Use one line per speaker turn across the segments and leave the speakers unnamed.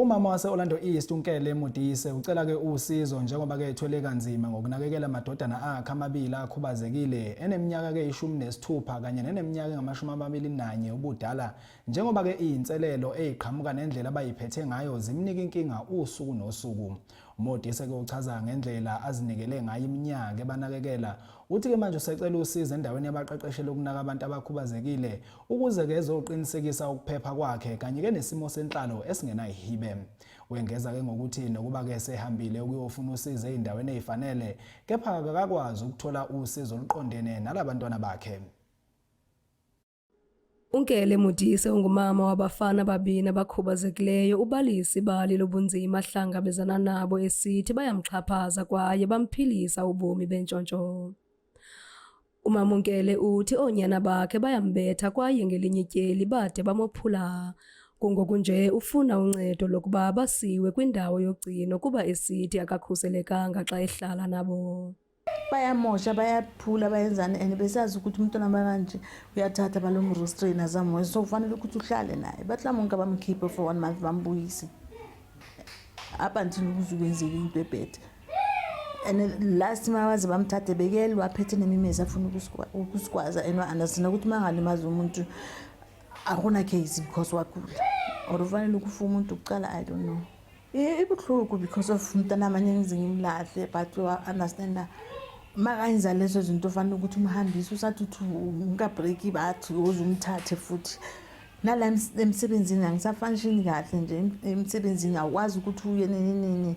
Umama wase-Orlando East uNkele Modise ucela-ke usizo njengoba-ke ethwele kanzima ngokunakekela amadodana akhe amabili akhubazekile eneminyaka-ke ishumi nesithupha kanye neneminyaka engamashumi amabili nanye ubudala njengoba-ke iyinselelo eyiqhamuka nendlela abayiphethe ngayo zimnika inkinga usuku nosuku umodise-ke uchaza ngendlela azinikele ngayo iminyaka ebanakekela uthi-ke manje usecela usizo endaweni yabaqeqeshela ukunaka abantu abakhubazekile ukuze ke ezoqinisekisa ukuphepha kwakhe kanye ke nesimo senhlalo esingenayihibe wengeza ke ngokuthi nokuba ke sehambile ukuyofuna usizo ezindaweni ezifanele kepha akakwazi ukuthola usizo oluqondene nalabantwana bakhe
Unkele Modise ungumama wabafana ababini abakhubazekileyo ubalisa ibali lobunzima ahlangabezana nabo esithi bayamxhaphaza kwaye bamphilisa ubomi bentshontsho. UMamungele uthi oonyana bakhe bayambetha kwaye ngelinye ityeli bade bamophula. Kungokunje ufuna uncedo lokuba basiwe kwindawo yogcino kuba esithi akakhuselekanga xa ehlala nabo. bayamosha
bayaphula bayenzani and besazi ukuthi umntwana bakanje uyathatha balomrostrain azamoya so kufanele ukuthi uhlale naye batlamonke bamkhiphe for one month bambuyise up until ukuze kwenzeke into ebhethe and last mawaze bamthathe bekele waphethe nemimezi afuna ukusigwaza and wa-understand ukuthi uma ngalimaza umuntu akuna case because wagula or ufanele ukufa umuntu kuqala i don't know ibuhlungu because of mntana amanye ngize ngimlahle but wa-understanda makanza lezo zinto ufanele ukuthi umhambise usathi uthi ngikabreaki bathi uze umthathe futhi nala emsebenzini angisafanishini kahle nje emsebenzini awukwazi ukuthi uye nini nini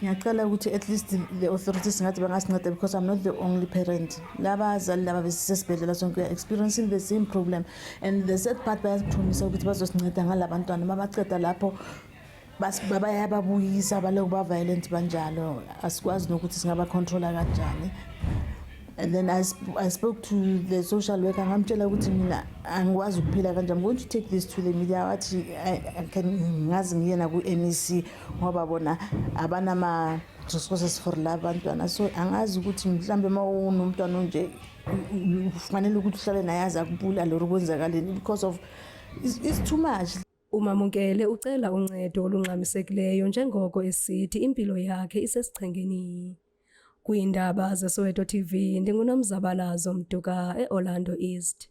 ngiyacela ukuthi
at least the authorities ngathi bangasinceda because i'm not the only parent labazali laba besisesibhedlela sonke weare experiencing the same problem and the sad part bayasiphumisa ukuthi bazosinceda ngala bantwana uma baceda lapho bayababuyisa baloku ba-violent banjalo asikwazi nokuthi singabacontrola kanjani and then I, sp I spoke to the social worker ngamtshela ukuthi mina angikwazi ukuphila kanjani i'm going to take this to the media wathi ngazi ngiyena ku-mec ngoba bona abanama resources for la bantwana so angazi ukuthi mhlawumbe uma unomntwana onje kufanele ukuthi uhlale naye aze akubulale or kwenzakaleni because of it's, it's too much umamukele
ucela uncedo olungxamisekileyo njengoko esithi impilo yakhe isesichengeni kwiindaba zesoweto tv ndingunomzabalazo mduka eorlando east